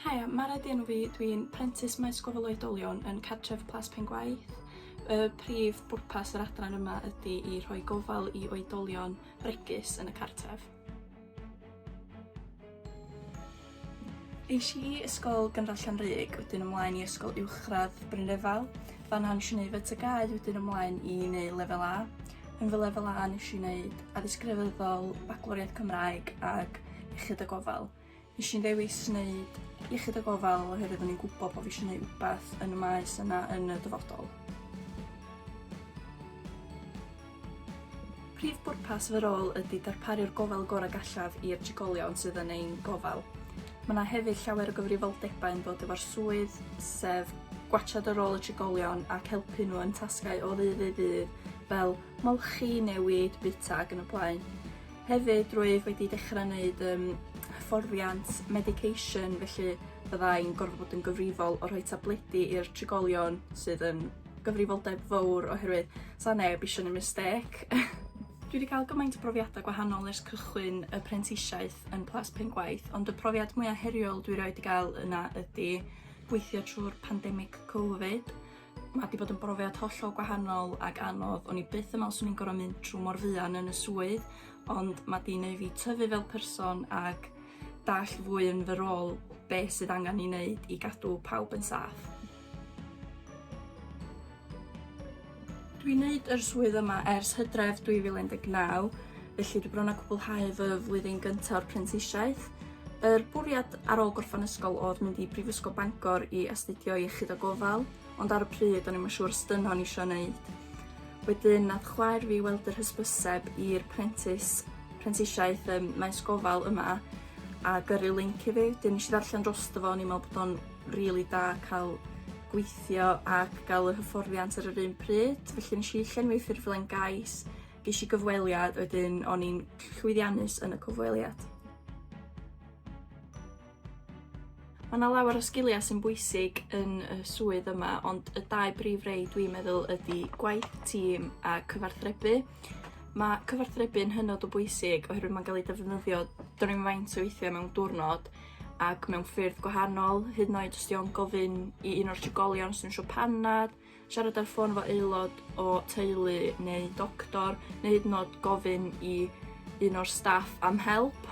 Haia, Mara ydi enw fi, dwi'n prentis maes gofal oedolion yn cartref Plas Pengwaith. Y prif bwrpas yr adran yma ydy i rhoi gofal i oedolion bregus yn y cartref. Es i i Ysgol Gynradd Llanrug, wedyn ymlaen i Ysgol Uwchradd Brynrefail. Fan'na nes i wneud fy TGAU wedyn ymlaen i wneud Lefel A. Yn fy Lefel A nes i wneud Addysg Grefyddol, Bacloriaeth Cymraeg ac Iechyd a Gofal. Nes i'n ddewis wneud Iechyd a Gofal oherwydd o'n i'n gwybod bod fi eisiau gwneud rhywbeth yn y maes yna yn y dyfodol. Prif bwrpas fy rôl ydy darparu'r gofal gorau gallaf i'r trigolion sydd yn ein gofal. Mae yna hefyd llawer o gyfrifoldebau yn dod efo'r swydd, sef gwatsiad ar ôl y trigolion ac helpu nhw yn tasgau o ddydd i ddydd fel molchi, newid, bwyta ac yn y blaen. Hefyd, rwyf wedi dechrau wneud um, hyfforddiant medication, felly byddai'n gorfod bod yn gyfrifol o rhoi tabledi i'r trigolion sydd yn gyfrifoldeb fowr oherwydd sa neb eisiau neud mistêc. Dwi wedi cael gymaint o brofiadau gwahanol ers cychwyn y prentisiaeth yn Plas Pengwaith, ond y profiad mwyaf heriol dwi roed i gael yna ydy gweithio trwy'r pandemig Covid. Mae wedi bod yn brofiad hollol gwahanol ac anodd. O'n i byth yn meddwl swn i'n gorfod mynd trwy mor fuan yn y swydd, ond mae wedi gwneud fi tyfu fel person ac dall fwy yn fy rôl beth sydd angen i wneud i gadw pawb yn saff. Dwi'n neud yr swydd yma ers Hydref 2019, felly dwi bron a cwblhau fy flwyddyn gynta o'r prentisiaeth. Yr bwriad ar ôl gorffan ysgol odd mynd i Brifysgol Bangor i astudio iechyd a gofal, ond ar y pryd o'n i'm yn siŵr os dyna o'n isio neud. Wedyn nath chwaer fi weld yr hysbyseb i'r prentis prentisiaeth ym maes gofal yma a gyrru linc i fi, 'dyn nesh i ddarllen drosto fo o'n i'n me'wl bod o'n rili da ca'l gweithio ac ga'l y hyfforddiant ar yr un pryd felly nesh i llenwi ffurflen gais gesh i gyfweliad wedyn o'n i'n llwyddiannus yn y cyfweliad. Ma' 'na lawer o sgilia sy'n bwysig yn y swydd yma ond y dau brif rei dwi'n meddwl ydi gwaith tîm a cyfarthrebu. Ma' cyfarthrebu'n hynod o bwysig oherwydd ma'n ga'l ei defnyddio dwn i'm faint o weithie mewn diwrnod ac mewn ffyrdd gwahanol, hyd yn oed os di o'n gofyn i un o'r trigolion sy'n siŵr panad, siarad ar ffôn efo aelod o teulu neu doctor, neu hyd yn oed gofyn i un o'r staff am help.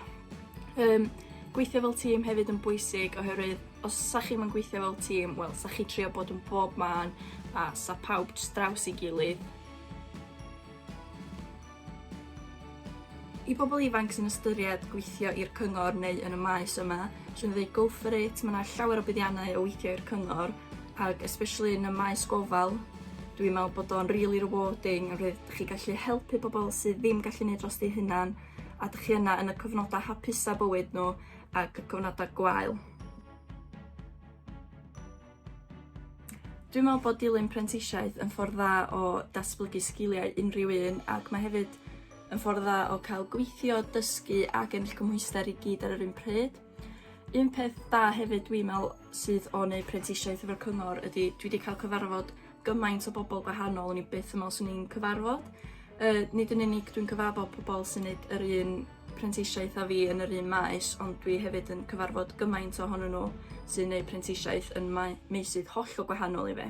Um, gweithio fel tîm hefyd yn bwysig oherwydd os sa chi'n yn gweithio fel tîm, wel, sa chi trio bod yn bob man a sa pawb draws i gilydd. I bobl ifanc sy'n ystyried gweithio i'r cyngor neu yn y maes yma, sy'n dweud go for it, mae yna llawer o buddiannau o weithio i'r cyngor, ac especially yn y maes gofal, dwi'n meddwl bod o'n really rewarding, a rydych chi gallu helpu pobl sydd ddim gallu gwneud dros eu hunan, a dych chi yna yn y cyfnodau hapusau bywyd nhw ac y cyfnodau gwael. Dwi'n meddwl bod dilyn prentisiaeth yn ffordd dda o datblygu sgiliau unrhyw un ac mae hefyd yn ffordd dda o cael gweithio, dysgu ac ennill cymhwyster i gyd ar yr un pryd. Un peth da hefyd dwi'n meddwl sydd o wneud prentisiaeth efo'r cyngor ydy dwi wedi cael cyfarfod gymaint o bobl gwahanol o'n i byth yn meddwl swn i'n cyfarfod. Yy nid yn unig dwi'n cyfarfod pobl sy'n neud yr un prentisiaeth â fi yn yr un maes ond dwi hefyd yn cyfarfod gymaint ohonyn nhw sy'n gwneud prentisiaeth yn mae- meysydd hollol gwahanol i fi.